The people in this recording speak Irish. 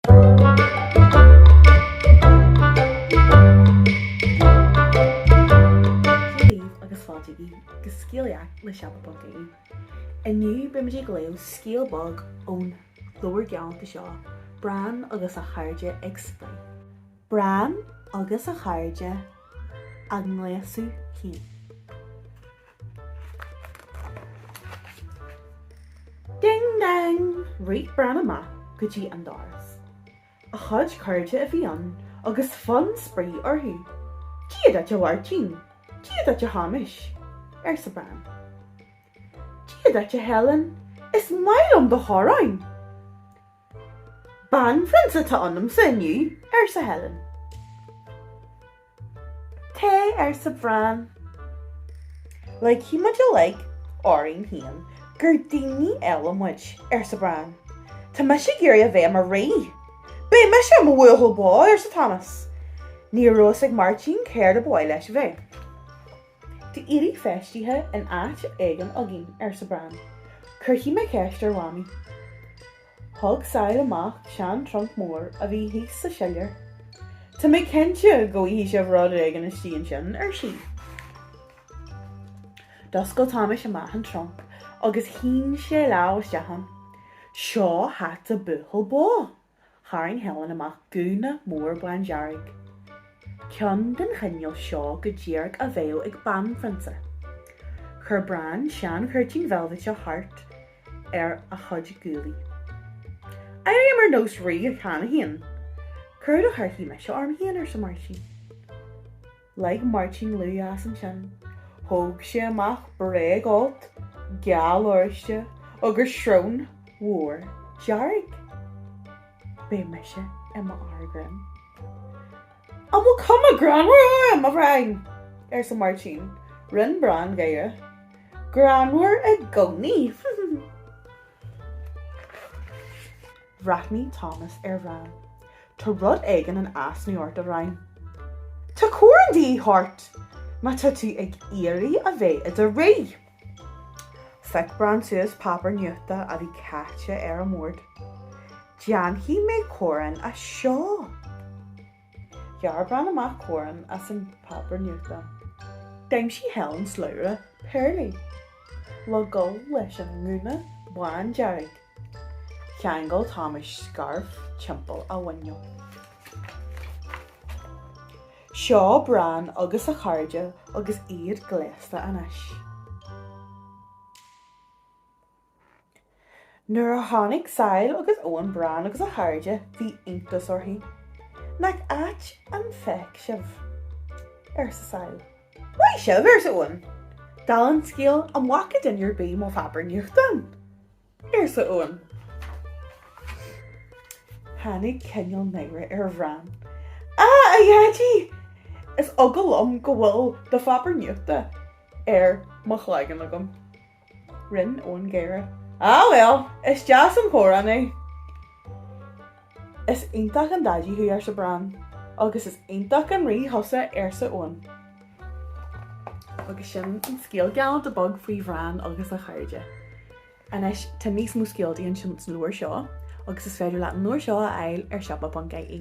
Dia daoibh agus fáilte go Scéalaíocht le Siopa.ie. Inniu beimid ag léamh scéal beag ón leabhar galánta seo, Bran agus a Chairde ag Spraoi. Bran agus a Chairde á nGléasadh Féin. Ding dang! Rith Bran amach go dtí an doras. A chuid cairde a bhí ann agus fonn spraoi orthu. Dia duit, a Mháirtín! Dia duit, a Thomáis! arsa Bran. Dia duit, a Helen! Is maith liom do choróin! Banphrionsa atá ionamsa inniu, arsa Helen. Cé, arsa Bran. Ligfidh muid uilig orainn féin gur daoine eile muid, arsa Bran. Tá mise ag iarraidh a bheith i mo rí. Beidh mise i mo bhuachaill bó, arsa Tomás. Ní raibh fhios ag Máirtín céard ab áil leis a bheith. Tá éadaí feistithe in áit éigin againn, arsa Bran. Cuirfidh mé ceist ar Mhamaí. Thug Sail amach seantrunc mór a bhí thíos sa siléar. Tá mé cinnte go bhfaighidh sibh rud éigin istigh ansin, ar sí. D'oscail Tomás amach an trunc agus shín sé lámh isteach ann. Seo hata buachaill bó. tharraing Helen amach gúna mór bándearg, ceann den chineál seo go díreach a bheadh ag banphrionsa. Chuir Bran seanchuirtín veilbhite thart ar a chuid guaillí. Airím ar nós rí cheana féin! Céard a chuirfidh mise orm féin, arsa Máirtín. Lig Máirtín liú as ansin. Thóg sé amach bréagfholt geal oráiste agus srón mhór dearg. Beidh mise i mo fhear grinn. An bhfuil cuma greannmhar orm, a Bhrain? arsa Máirtín. Rinn Bran gáire. Greannmhar i gcónaí. Bhreathnaigh Tomás ar Bhran. Tá rud éigin in easnamh ort, a Bhrain. Tá coróin de dhíth ort, má tá tú ag iarraidh a bheith i do rí. Phioc Bran suas páipéar nuachta a bhí caite ar an mbord. Déanfaidh mé coróin as seo. Ghearr Bran amach coróin as an bpáipear nuachta. D'aimsigh Helen slabhra péarlaí le dhul leis an ngúna bándearg. Cheangail Tomás scairf timpeall a mhuiníl. Seo Bran agus a chairde agus iad gléasta anois. Nuair a chonaic Sail agus Eoin Bran agus a chairde, bhí iontas orthu. Nach ait an feic sibh? arsa Sail. Maith sibh! arsa Eoin. Dála an scéil, an bhfaca duine ar bith mo pháipéar nuachta? arsa Eoin. Tháinig cineál náire ar Bhran. Á, a Dhaidí! Is eagal liom go bhfuil do pháipéar nuachta ar mo chloigeann agam. Rinne Eoin gáire. Á bhuel, is deas an choróin é. Is iontach an daidí thú, arsa Bran. Agus is iontach an rí thusa, arsa Eoin. Agus sin an scéal galánta beag faoi Bhran agus a chairde. Anois, tá níos mó scéaltaí ansin san leabhar seo, agus is féidir leat an leabhar seo a fháil ar siopa.ie.